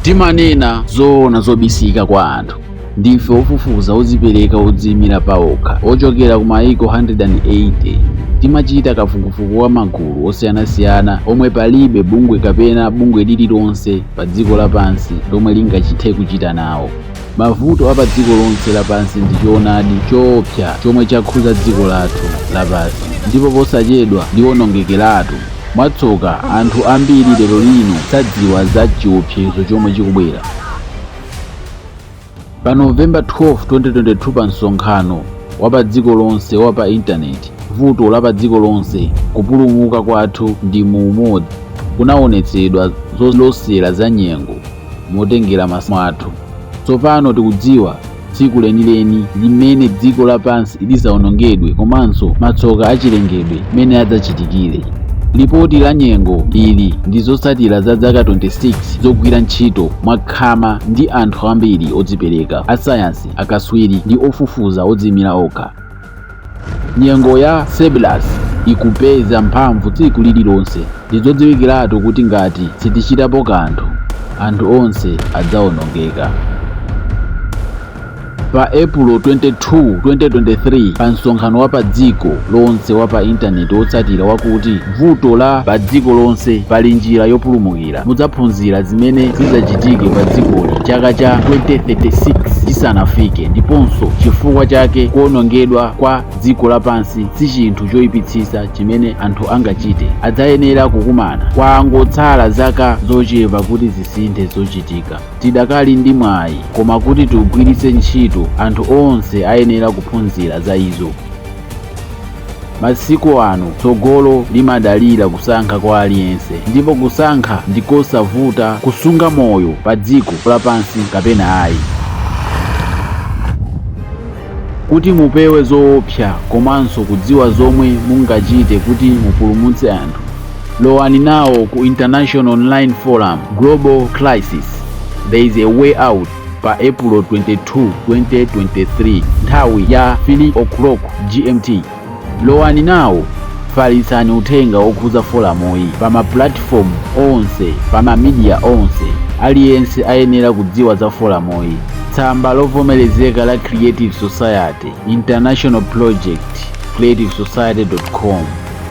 Timanena zoona zobisika kwa anthu. Ndife ofufuza odzipereka odziimira paokha ochokera ku mayiko 180. Timachita kafukufuku wa magulu osiyanasiyana omwe palibe bungwe kapena bungwe lililonse padziko lapansi lomwe lingachithe kuchita nawo. Mavuto a padziko lonse lapansi ndi choonadi choopsa chomwe chakhudza dziko lathu lapansi ndipo posachedwa liwonongekeratu. Mwatsoka, anthu ambiri lero lino sadziwa za chiopsezo chomwe chikubwera. Pa November 12, 2022 pa msonkhano wa padziko lonse wa pa intaneti, Vuto la Padziko Lonse, Kupulumuka Kwathu ndi mu Umodzi, kunaonetsedwa zolosera za nyengo. motengera masamu athu. Tsopano tikudziwa tsiku lenileni limene dziko lapansi lidzawonongedwe komanso matsoka achilengedwe mmene adzachitikire. Lipoti la nyengo ili ndi zotsatira za zaka 26 zogwira ntchito mwakhama ndi anthu ambiri odzipereka, asayansi, akatswiri, ndi ofufuza odziimira okha. Nyengo ya Cerberus ikupeza mphamvu tsiku lililonse. Ndi zodziwikiratu kuti ngati sitichitapo kanthu, anthu onse adzaonongeka. Pa Epulo 22, 2023, pa msonkhano wa padziko lonse wa pa intaneti wotsatira wakuti Vuto la Padziko Lonse, Pali Njira Yopulumukira? mudzaphunzira zimene zidzachitike padzikoli chaka cha 2036 chisanafike ndiponso chifukwa chake kuwonongedwa kwa dziko lapansi si chinthu choipitsitsa chimene anthu angachite. Adzayenera kukumana. Kwangotsala zaka zochepa kuti zisinthe zochitika. Tidakali ndi mwayi, koma kuti tiugwiritse ntchito, anthu onse ayenera kuphunzira za izo. Masiku ano tsogolo limadalira kusankha kwa aliyense, ndipo kusankha ndi kosavuta kusunga moyo padziko lapansi kapena ayi. Kuti mupewe zoopsa komanso kudziwa zomwe mungachite kuti mupulumutse anthu, lowani nawo ku International Online Forum Global Crisis There is a Way Out pa Epulo 22, 2023 nthawi ya 3 o'clock GMT. Lowani nawo falitsani uthenga wokhudza folamuyi pa mapulatifomu onse pa mamidiya onse. Aliyense ayenera kudziwa za folamuyi. Tsamba lovomerezeka la Creative Society International Project creativesociety.com